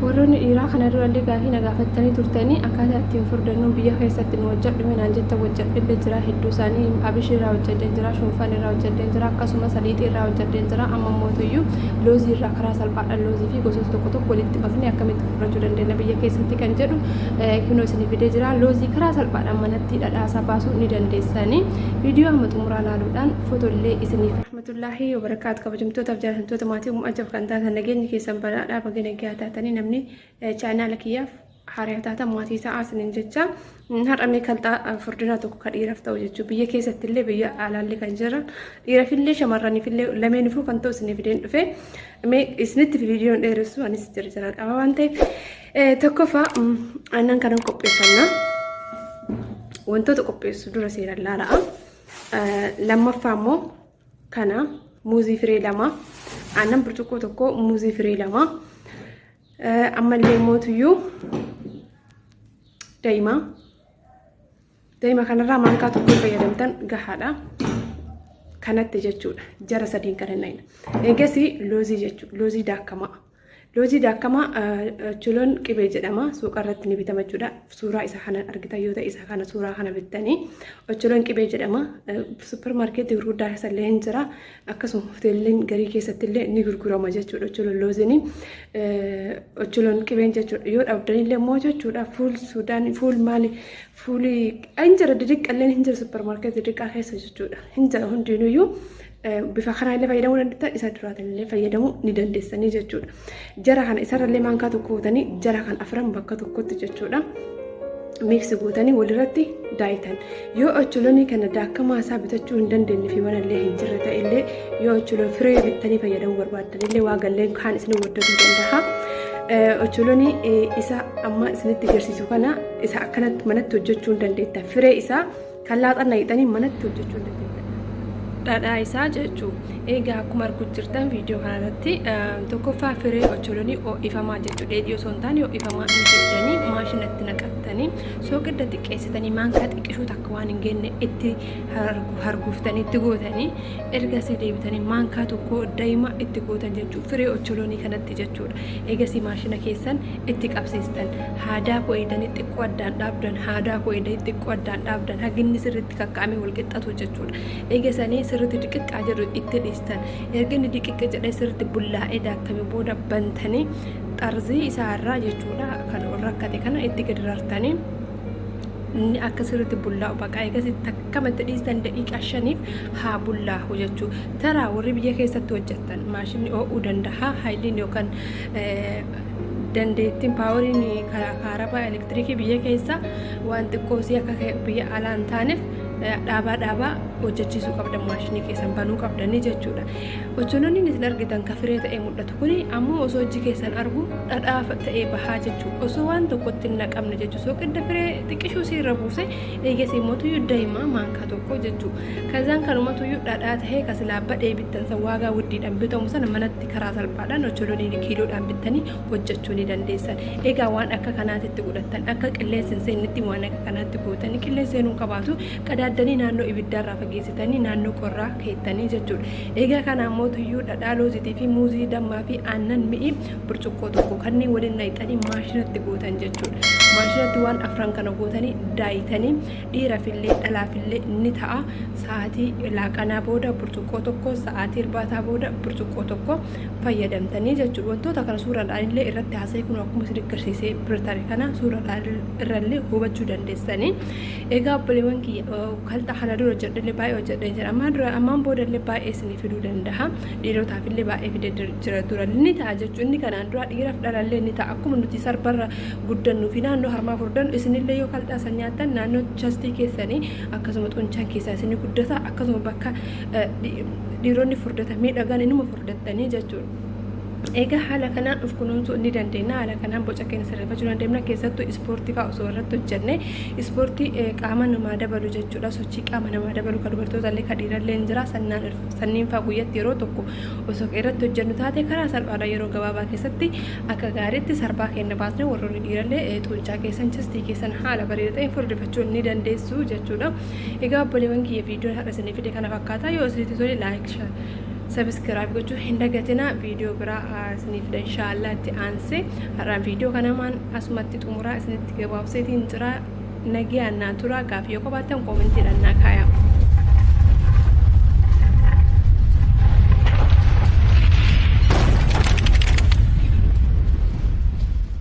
warroonni dhiiraa kana durallee gaafii na gaafattanii turtanii akkaataa ittiin furdannuu biyya keessatti nu hojjedhu mee naan jettan hojjedhillee jira hedduu isaanii abishii irraa hojjedheen jira shunfaan irraa hojjedheen jira akkasuma saliixii irraa hojjedheen jira amma mootuyyuu loozii irraa karaa salphaadhaan loozii fi gosoota tokko tokko walitti bafnee akkamitti furrachuu dandeenya biyya keessatti kan jedhu kunoo isin fidee jira loozii karaa salphaadhaan manatti dhadhaasaa baasuu ni dandeessanii viidiyoo amma xumuraa laaluudhaan footollee isiniif Tullaahi wabarakaatu kabajamtoota fi jaallatamtoota maatii uumuu ajab kan taatan nageenyi keessan badhaadhaa baga nagaa taatanii namni chaayinaala kiyyaaf haaraa taata maatii ta'aa isiniin jecha har'a mee kalxaa furdinaa tokko ka dhiiraaf ta'u jechuun biyya keessatti illee biyya alaallee kan jiran dhiiraaf illee shamarraniif illee lameenifuu kan ta'u isiniif ideen dhufe mee isinitti viidiyoon dheeressu anis jirjiraan qaba waan ta'eef tokkoffaa aannan kanan qopheeffannaa wantoota qopheessu dura seeraan laala'a. Lammaffaa immoo kana muuzii firee lama aannan burcuqqoo tokko muuzii firee lama ammallee mootuyyuu daa'ima daa'ima kanarraa maankaa tokko fayyadamtan gahaadha. kanatti jechuudha jara sadiin kan hin dhayne eegasii loozii jechuudha loozii daakamaa Loojii daakamaa chuloon qibee jedhama. Suuqa irratti ni bitama jechuudha. Suuraa isa kana argitan yoo ta'e isa kana suuraa kana bittanii chuloon qibee jedhama. Suppermaarkeetii gurguddaa keessa illee hin jira. Akkasuma hoteelleen garii keessatti illee ni gurgurama jechuudha. Chuloon loozinii chuloon qibeen jechuudha. Yoo dhabdan illee immoo jechuudha fuul suudaan fuul maali fuuli hin jira didiqqalleen hin jira suppermaarkeetii didiqqaa keessa jechuudha. Hin jira hundinuyyuu bifa kanaa illee fayyadamuu dandeessa isa duraatiin illee fayyadamuu ni dandeessanii jechuudha. Jara kana isarra illee maankaa tokko gootanii jara kan afran bakka tokkotti jechuudha. Miiksi gootanii walirratti daayitan. Yoo ocholonii kana daakamaa isaa bitachuu hin dandeenye fi mana illee hin jirre ta'e illee yoo ocholon firee bittanii fayyadamuu barbaaddan illee waa galleen kaan isin waddaduu danda'a. Ocholonii isa amma isinitti agarsiisu kana isa akkanatti manatti hojjechuu hin dandeetta. Firee isaa Kan laaxan layixanii manatti hojjechuu ni dandeenya. Dhadhaa isaa jechuu egaa akkuma arguu jirtan viidiyoo kana irratti tokkoffaa firee ocholonii ho'ifamaa jechuu dheedhii osoo hin taane ho'ifamaa hin fiddanii maashinatti naqattanii soogidda xiqqeessitanii maankaa xiqqishuu takka waan hin genne itti harguuftanii itti gootanii ergasii deebitanii maankaa tokko daima itti gootan jechuudha firee ocholonii kanatti jechuudha eegasii maashina keessan itti qabsiistan haadaa koo eedanii xiqqoo addaan dhaabdan haadaa koo eedanii xiqqoo addaan dhaabdan haginni sirriitti kakka'amee wal qixxatu jechuudha eegasanii sirriitti diqiqqaa jedhu itti dhiistan erga inni diqiqqi jedhee sirriitti bullaa'ee daakame booda bantanii xarzii isaa irraa jechuudha kan rakkate kana itti gadi rartanii inni akka sirriitti bullaa'u baqa eegas takkama itti dhiistan daqiiqaa shaniif haa bullaa'u jechuu taraa warri biyya keessatti hojjettan maashinni oo'uu danda'a haayiliin yookaan dandeettiin paawariin karaa kaarabaa elektirikii biyya keessaa waan xiqqoosii akka biyya alaa hin taaneef dhaabaa dhaabaa hojjechiisuu qabdan maashinii keessan banuu qabdanii jechuudha. Ocholoonni isin argitan ka firee ta'ee mul'atu kun ammoo osoo ijji keessan argu dhadhaa ta'ee bahaa jechuu osoo waan tokkotti hin naqamne jechuu sooqidda firee xiqqishuu si irra buuse eegasii immoo tuyyuu daa'imaa maankaa tokko jechuu kazaan kanuma tuyyuu dhadhaa ta'ee ka silaa badhee bittan san waagaa wuddiidhaan bitamu sana manatti karaa salphaadhaan ocholoonni kiiloodhaan bittanii hojjechuu ni dandeessan egaa waan akka kanaatitti godhattan akka qilleensi hin seennetti waan akka kanaatti gootanii qilleensi seenuu qabaatu qadaaddanii naannoo ibiddaarraa fageessitanii naannoo qorraa keettanii jechuudha. Egaa kana ammoo tuyyuu dhadhaa loozitii fi muuzii dammaa fi aannan mi'i burcuqqoo tokko kanneen waliin naqxanii maashinatti gootan jechuudha. Maashinatti waan afran kana gootanii daayitanii dhiirafillee dhalaafillee ni ta'a. Sa'aatii laaqanaa booda burcuqqoo tokko sa'aatii irbaataa booda burcuqqoo tokko fayyadamtanii jechuudha. Wantoota kana suuraadhaan illee irratti haasa'ee kun akkuma isin garsiisee birtare kana suuraadhaan irrallee hubachuu dandeessanii. Egaa obboleewwan kiyya kaltaa kana dura hojjedhellee baay'ee hojjedhee jira ammaan dura ammaan boodallee baay'ee isinii fiduu danda'a dhiirotaafillee baay'ee fide jira dura ni ta'a jechuun inni kanaan dura dhiiraaf dhalallee ni ta'a akkuma nuti sarbarra guddannuu fi naannoo harmaa furdannu isinillee yoo kaltaa san nyaattan naannoo chastii keessanii akkasuma xunchaan keessaa isinii guddata akkasuma bakka dhiironni furdatan miidhagaan inuma furdattanii jechuudha. Egaa haala kanaan of kunuunsuu ni dandeenya. Haala kanaan boca keenya sirreeffachuu dandeenya. Keessattuu ispoortii fa'aa osoo irratti hojjenne ispoortii qaama namaa dabalu jechuudha. Sochii qaama namaa dabalu kan dubartootaallee kan dhiirallee ni jira. Sanniin fa'aa guyyatti yeroo tokko osoo irratti hojjennu taate karaa salphaadha yeroo gabaabaa keessatti akka gaariitti sarbaa keenya baasne warroonni dhiirallee xuuncaa keessan chistii keessan haala bareeda ta'een furdifachuu ni dandeessu jechuudha. Egaa obboleewwan kiyya viidiyoon har'a isinii fide kana fakkaata. Yoo isinitti tole laayik sabiskiraayib gochuu hin dagatina viidiyoo biraa isiniif dha inshaallah itti aanse har'aan viidiyoo kanamaan asumatti xumuraa isinitti gabaabseetiin jira nagee annaa turaa gaafii yoo qabaattan koomentii dhannaa kaayaa.